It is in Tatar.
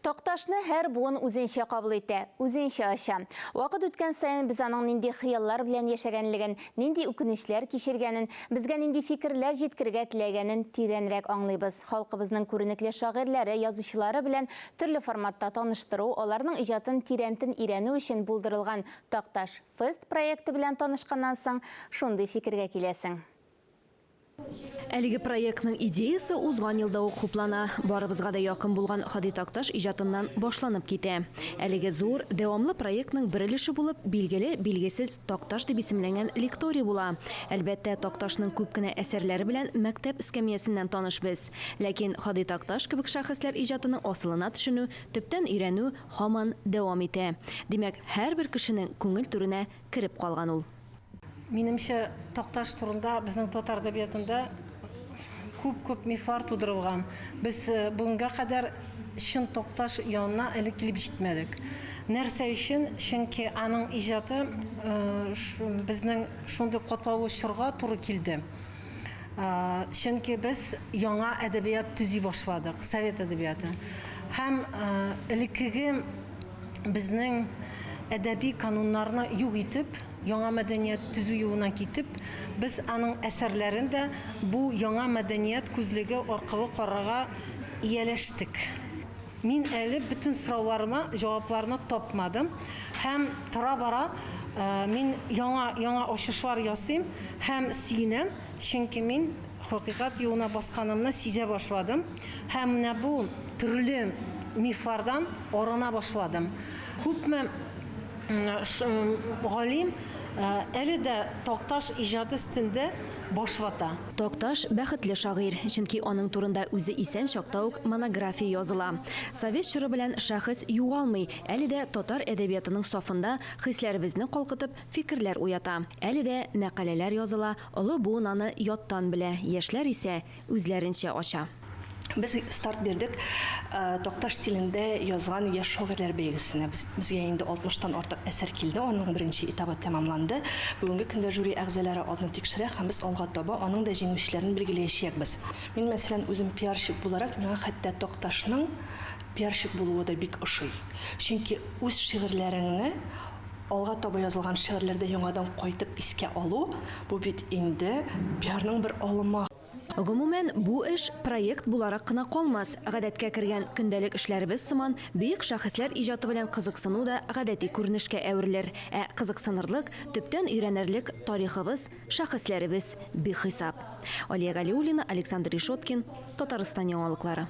Такташны һәр буын үзенчә кабул итә, үзенчә ача. Вакыт үткән саен без аның нинди хыяллар белән яшәгәнлеген, нинди үкенечләр кичергәнен, безгә нинди фикерләр җиткергә теләгәнен тирәнрәк аңлыйбыз. Халкыбызның күренекле шагыйрьләре, язучылары белән төрле форматта таныштыру, аларның иҗатын тирәнтен өйрәнү өчен булдырылган Такташ Фест проекты белән танышканнан соң, шундый фикергә киләсең. Әлеге проектның идеясе узган елда ук хуплана, барыбызга да якын булган Һади Такташ иҗатыннан башланып китә. Әлеге зур, дәвамлы проектның бер өлеше булып, билгеле, билгесез Такташ дип исемләнгән лекторий була. Әлбәттә, Такташның күп кенә әсәрләре белән мәктәп эскәмиясеннән таныш без. Ләкин Һади Такташ кебек шәхесләр иҗатының асылына төшенү, төптән өйрәнү һаман дәвам итә. Димәк, һәрбер кешенең күңел түренә кереп калган ул. Минемчә, Такташ турында безнең татар әдәбиятында күп-күп мифлар тудырылган. Без бүгенгә кадәр чын Такташ янына әле килеп җитмәдек. Нәрсә өчен? Чөнки аның иҗаты безнең шундый катлаулы чорга туры килде. Чөнки без яңа әдәбият төзи башладык, совет әдәбияты. Һәм элеккеге безнең әдәби кануннарны юк итеп, яңа мәдәният төзү юлына китеп, без аның әсәрләрен дә бу яңа мәдәният күзлеге аркылы карарга ияләштек. Мин әле бөтен сорауларыма җавапларны тапмадым һәм тора-бара мин яңа, яңа ачышлар ясыйм һәм сөенәм, чөнки мин, Хакыйкать юлына басканымны сизә башладым һәм менә бу төрле мифлардан арына башладым. Күпме галим әле дә Такташ иҗаты өстендә баш вата. Такташ, бәхетле шагыйрь, чөнки аның турында үзе исән чакта ук монография языла. Совет чоры белән шәхес югалмый, әле дә татар әдәбиятының сафында хисләребезне калкытып, фикерләр уята. Әле дә мәкаләләр языла, Олы буын аны яттан белә, яшьләр исә үзләренчә ача. Без старт бирдек Такташ стилендә язган яшь шагыйрьләр бәйгесенә. Безгә инде 60 тан артык әсәр килде, аның беренче этабы тәмамланды. Бүгенге көндә жюри әгъзалары атны тикшерә һәм без алга таба аның да җиңүчеләрен билгеләячәкбез. Мин, мәсәлән, үзем пиарщик буларак, миңа хәтта Такташның пиарщик булуы да бик ошый. Чөнки үз шигырьләреңне Алга таба язылган шигырьләрдә яңадан кайтып искә алу, бу бит инде пиарның бер алымы. Гомумән, бу эш проект буларак кына калмас, гадәткә кергән көндәлек эшләребез сыман, бөек шәхесләр иҗаты белән кызыксыну да гадәти күренешкә әверелер. Ә кызыксынырлык, төптән өйрәнерлек тарихыбыз, шәхесләребез бихисап. Алия Галиуллина, Александр Решеткин, Татарстан яңалыклары.